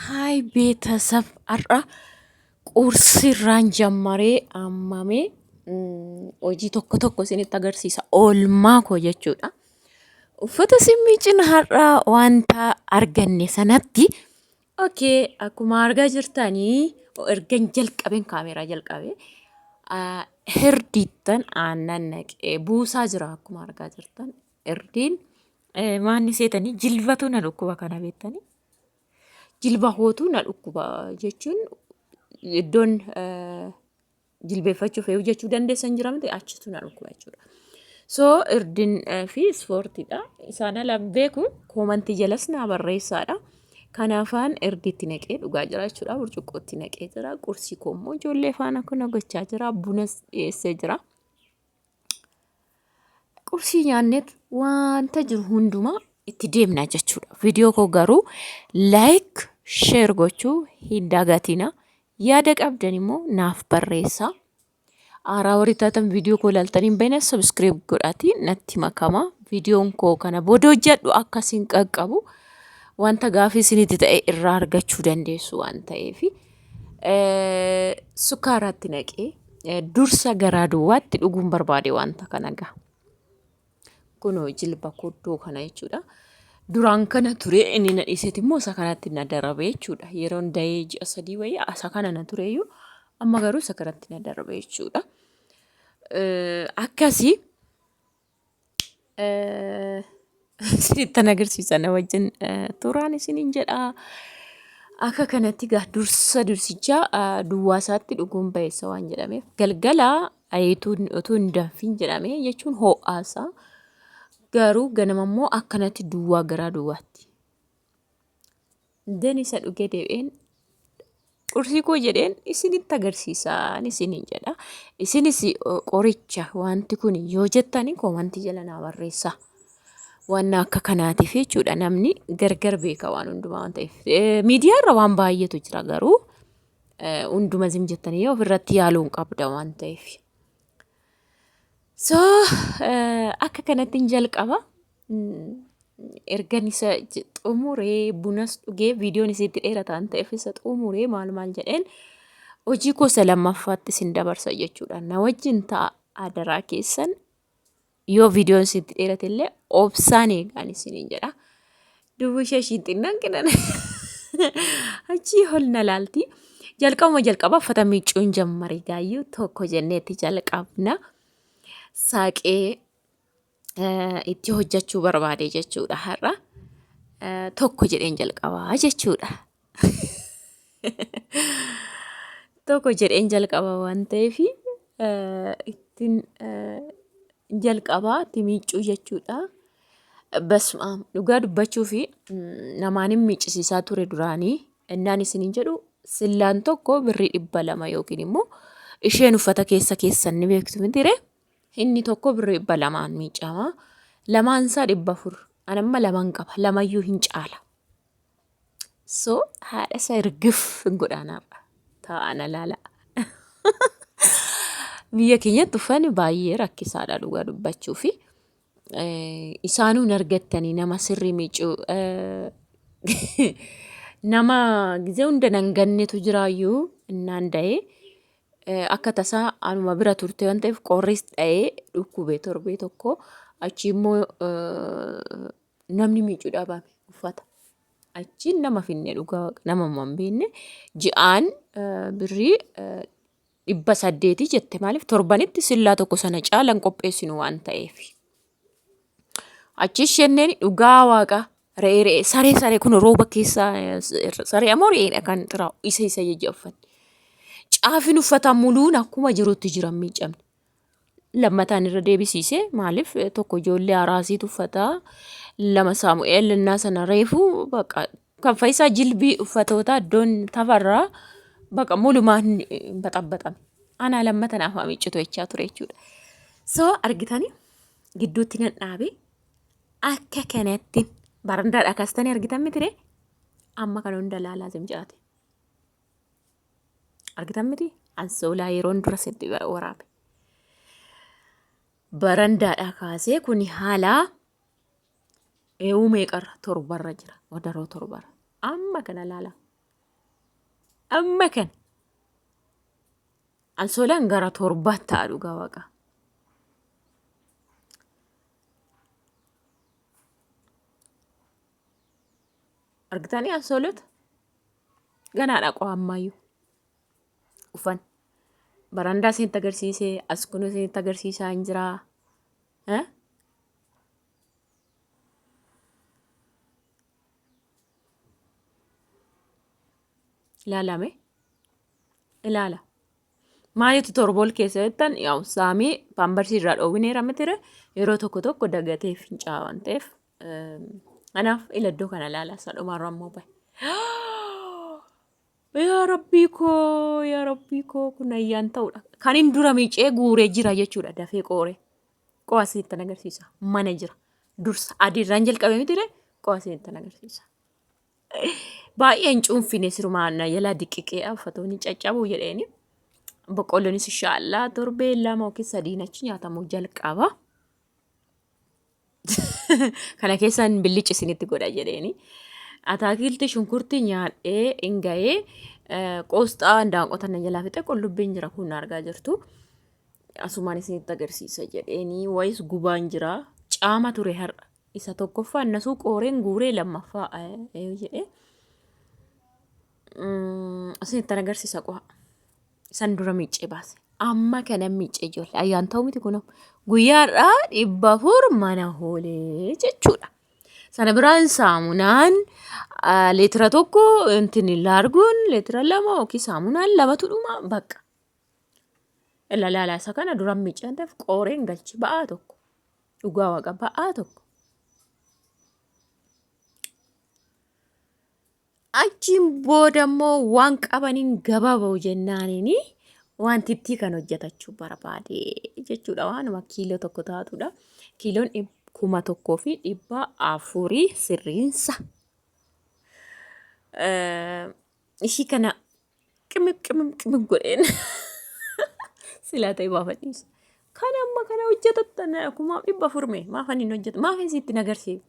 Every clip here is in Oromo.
Haay beetasaf har'a quursiirraan jammaree ammame hojii tokko tokko isinitti agarsiisa oolmaa koo jechuudha. Uffata simmii cina har'a wanta arganne sanatti okay akkuma argaa jirtanii ergan jalqabeen kaameeraa jalqabe hirdiittan aannan naqee buusaa jira akkuma argaa jirtan. Erdiin maanni seetanii jilbatu na dhukkuba kana beektanii jilba hootu na dhukkuba jechuun iddoon jilbeeffachuuf eeyyuu jechuu dandeessan jira miti achitu na dhukkuba jechuudha. So irdin fi ispoortiidha. Isaan ala beeku koomantii jalas naa barreessaadha. Kanaafaan irdiitti naqee dhugaa jira jechuudha. Burcuqqootti naqee jira. Qursii koo immoo ijoollee faana kana gochaa jira. Bunas dhiyeessee jira. qursii nyaanneet wanta jiru hundumaa itti deemna jechuudha. Viidiyoo koo garuu like, share gochuu hin dagatina. Yaada qabdan immoo naaf barreessaa. Aaraa warri taatan viidiyoo koo ilaaltanii hin beekne subscribe godhaatii natti makama. Viidiyoon koo kana booda hojjedhu akka isin qaqqabu wanta gaafii isinitti ta'e irraa argachuu dandeessu waan ta'eefi. sukkaaraatti naqee dursa garaa duwwaatti dhuguun barbaade wanta kana gaa. Kunoo jilba koddoo kana jechuudha. Duraan kana ture inni na dhiiseeti immoo isa kanatti na darabe jechuudha. Yeroon dahee ji'a sadii wayii isa kana na tureyyuu amma garuu isa kanatti na darabe jechuudha. Akkasii Isinittan agarsiisa na wajjin turaan isiniin jedhaa. Akka kanatti gaa dursa dursicha duwwaa isaatti dhuguun bayeessa waan jedhameef galgala ayeetuun otoo hin danfiin jedhame jechuun hoo'aasa. Garuu ganama immoo akkanatti duwwaa garaa duwwaatti. Nden isa dhuge deebi'een qursii koo jedheen isinitti agarsiisaan isiniin jedha. Isinis qoricha wanti kun yoo jettani koomantii jala naa barreessa. Waan akka kanaatiif jechuudha namni gargar beeka waan hundumaa waan ta'eef. Miidiyaa irra waan baay'eetu jira garuu hunduma zim jettanii ofirratti yaaluun qabda waan ta'eef. So akka kanattiin jalqaba ergan isa xumuree bunas dhugee viidiyoon isitti dheerataan ta'eef isa xumuree maal maal jedheen hojii gosa lammaffaatti isin dabarsa jechuudha. Na wajjin ta'a adaraa keessan yoo viidiyoon isitti dheerate illee obsaan eegaan isiniin jedha. Duuba ishee ishiin xinnaan kennan. Achii ol na laalti. Jalqabuma jalqabaa uffata miiccuun jammare gaayyuu tokko jenneetti jalqabna. Saaqee eh, itti hojjechuu barbaade jechuudha har'a. Eh, Tokko jedheen jalqabaa jechuudha. tokko jedheen jalqaba waan ta'eef ittiin jalqaba itti miiccuu jechuudha. Basmaam dhugaa dubbachuu fi namaan hin miiccisiisaa ture duraanii innaan isiniin jedhu sillaan tokko birrii dhibba lama yookiin immoo isheen uffata keessa keessan ni beektu mitire inni tokko birrii dhibba lamaan miiccama lamaan isaa dhibba afur anamma lamaan qaba lamayyuu hin caala. So haadha isa irgif hin godhaanaaf taa'ana laala. Biyya keenyatti uffanni baay'ee rakkisaadha dhugaa dubbachuu fi isaanuu hin argattanii nama sirrii miicuu nama gizee hunda nan gannetu jiraayyuu innaan da'ee akka tasaa anuma bira turte waan ta'eef qorris dha'ee dhukkubee torbee tokko achi immoo namni miicu dhabame uffata achiin nama finne dhugaa waqa nama hin beekne ji'aan birrii dhibba saddeetii jette maaliif torbanitti sillaa tokko sana caalan qopheessinu waan ta'eef. Achi ishenneen dhugaa waaqa re'ee re'ee saree saree kun rooba keessa saree ammoo re'eedha kan xiraa'u isa isa jajja uffanne. Caafin uffataa muluun akkuma jirutti jiran miicamne. lammataan irra deebisiise maaliif tokko ijoollee araasii tuffataa lama saamu'eel innaa sana reefu baqa kan faayisaa jilbii uffatoota iddoon tafarraa baqa mulumaan baxabbaxame anaa lammata naaf haa miccitu jechaa ture jechuudha. So argitanii gidduutti nan dhaabe akka kanatti barandaadha kaastanii argitan mitire amma kan hunda laalaa zimcaate. argitan miti ansoolaa yeroon dura sitti waraabe barandaadhaa kaasee kun haala eewuu meeqarra torbarra jira wadaroo torbarra amma kana laala amma kana ansoolaan gara torbaa ta'a dhugaa waaqa Argitanii absolute? Ganaadha qoo ammaayyuu. Ufan. Barandaa isinitti agarsiisee as kun isinitti agarsiisaa hin jiraa. Eh? Ilaalame. Ilaala. Maaliitu torbool keessa jettan yaa'u saamii paambarsii irraa dhoowwineera mitire yeroo tokko tokko dagatee fincaa waan ta'eef Kanaaf ila iddoo kana ilaala isa dhumaarra ammoo bahe. Yaa rabbii koo yaa rabbii koo kun ayyaan ta'udha. Kan hin dura miicee guuree jira jechuudha dafee qooree. Qo'a isinitti agarsiisa mana jira. Dursa adiirraan jalqabee miti ree qo'a isinitti agarsiisa. Baay'een cuunfine sirumaa na jalaa diqiqee uffatoonni caccabuu jedheeni. Boqqolloonis inshaallah torbee lama yookiin sadiin achi nyaatamuu jalqaba. kana keessaan billici isinitti godha jedheeni. Ataakilti shunkurti nyaadhee hin ga'ee qoosxaa daanqota na jalaa fixe qullubbiin jira kun argaa jirtu. Asumaan isinitti agarsiisa jedheeni wayis gubaan jira caama ture har'a. Isa tokkoffaa innasuu qooreen guuree lammaffaa jedhee isinitti agarsiisa qoha. San dura miiccee baase. Amma kana miiccee ijoollee ayyaan ta'u miti kunoo. Guyyaarraa dhibba afur mana hoolee jechuudha. Sana biraan saamunaan ah, leetira tokko intin laarguun leetira lama yookiin saamunaan lamatu dhuma baqa. Ilaalaalaa isa kana duran miiccee waan ta'eef qooreen galchi ba'aa tokko. Dhugaa waaqa ba'aa tokko. Achiin booda immoo waan qabaniin gabaa ba'u jennaaniin wantittii kan hojjetachuu barbaade jechuudha. Waanuma kiiloo tokko taatudha. Kiiloon dhib- kuma tokkoo fi dhibba afurii sirriinsa. Eh, Ishii kana qimim qimim qimim godheen silaa ta'e baafadhiisa. Kan amma kana hojjetatta na- kumaaf dhibba afur mee maafan hin hojjetu maafan sitti hin agarsiifne.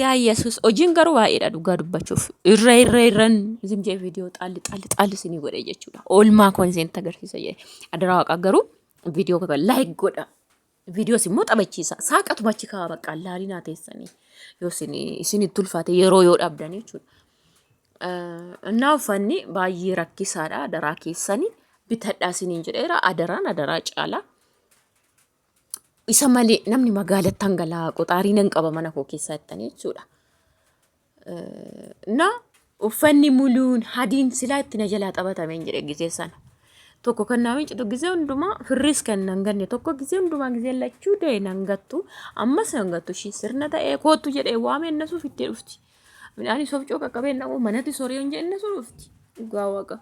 Yaa Yesuus hojiin garuu baay'eedha dhugaa dubbachuuf. Irra irra irran isin jee viidiyoo xaalli xaalli xaalli isinii godhe jechuudha. Oolmaa koo isin agarsiisa jee. Adaraa waaqaa garuu viidiyoo kana laayik godha. Viidiyoos immoo taphachiisa. Saaqatuma achi kaa'aa bakka laalii naa teessanii. Yoo isin isin itti ulfaate yeroo yoo dhabdan jechuudha. Innaa uffanni baay'ee rakkisaadha. Adaraa keessanii bitadhaa isiniin jedheera. Adaraan adaraa caalaa. Isa malee namni magaalatti hangala'aa qoxaarii nan qaba mana koo keessaa jettanii jechuudha. Na uffanni muluun hadiin silaa itti na jalaa taphatame hin jedhe gisee sana. Tokko kan naa mincitu gisee hundumaa firris kan nan ganne tokko gisee hundumaa gisee lachuu dee nan gattu ammas nan gattu ishii sirna ta'ee koottu jedhee waamee na suuf itti dhufti. Midhaan isoof coo qaqqabee na manatti sorii hin jedhe na suuf dhufti. Dhugaa waaqa.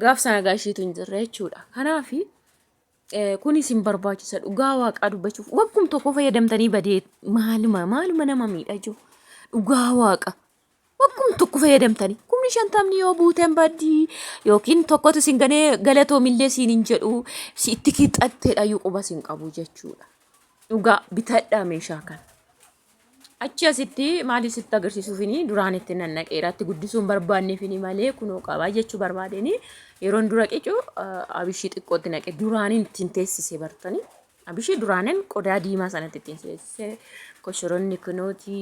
Gaaf sana gaashiitu hin jirre jechuudha. Kanaafi Kuni isin barbaachisa dhugaa waaqaa dubbachuuf wakkum tokko fayyadamtanii badee maaluma maaluma nama miidha jiru dhugaa waaqa wakkum tokko fayyadamtanii kumni shantamni yoo buuteen baddii yookiin tokkotu isin ganee galatoomillee siin hin jedhu si itti kixatteedha iyyuu quba isin qabu jechuudha dhugaa bitadhaa meeshaa kana. Achi asitti maaliif sitti agarsiisuufini duraan itti nannaqeera itti guddisuun barbaanneefini malee kunoo qabaa jechuu barbaadeni yeroon dura qicu abishii xiqqootti naqe duraaniin ittiin teessise bartani abishii duraanin qodaa diimaa sanatti ittiin teessise koshoronni kunooti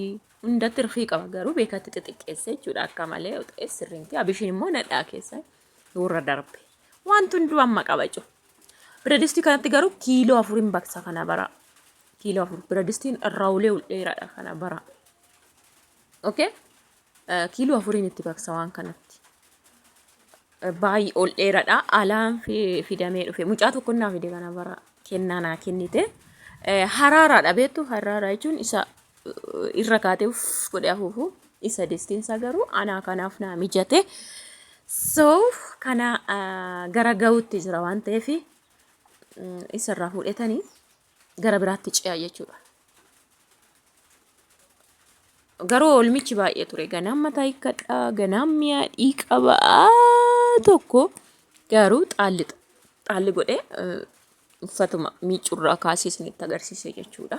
hundatti rifii qaba garuu beekatti xixiqqeesse jechuudha akka malee ta'es sirriimti abishiin immoo nadhaa keessa warra darbe wanti hunduu amma qabacu biradistii kanatti garuu kiiloo afuriin baksa kana bara kiiloo afur biradistiin irraawulee ol dheeraadha kana bara okay kiiloo afuriin itti baksa waan kanatti baay'ee ol dheeraadha alaan fidamee dhufe mucaa tokko naa fide kana bara kennaa naa kennite haraaraadha beektu haraaraa jechuun isa irra kaatee uff godhee afuufu isa distiinsa garuu anaa kanaaf naa mijate so kana gara ga'uutti jira waan ta'eef isarraa fuudhetanii gara biraatti ce'a jechuudha. Garuu oolmichi baay'ee ture. Ganaan mataa hiikkadha, ganaan mi'a dhiiqaba tokko garuu xaalli xaalli godhee eh, uffatuma miicurraa kaasee isinitti agarsiise jechuudha.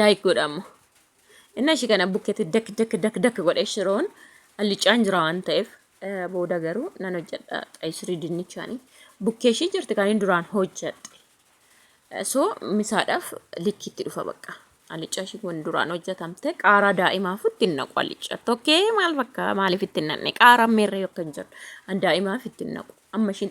Like godha amma. Inni ishii kana bukkeetti dak dak dak dak godhee shiroon allicaan jira waan ta'eef eh, booda garuu nan hojjedha qayishirii dinnichaanii. Bukkee ishii jirti kan inni duraan hojjedhe. Eh, So misaadhaaf likkiitti dhufa bakka. Allicaa ishii kun duraan hojjetamte qaaraa daa'imaaf itti hin naqu allicaa. Tokkee maal fakkaa maaliif itti hin naqne qaaraan meerree yookaan hin jiru. An daa'imaaf itti hin naqu. Amma ishiin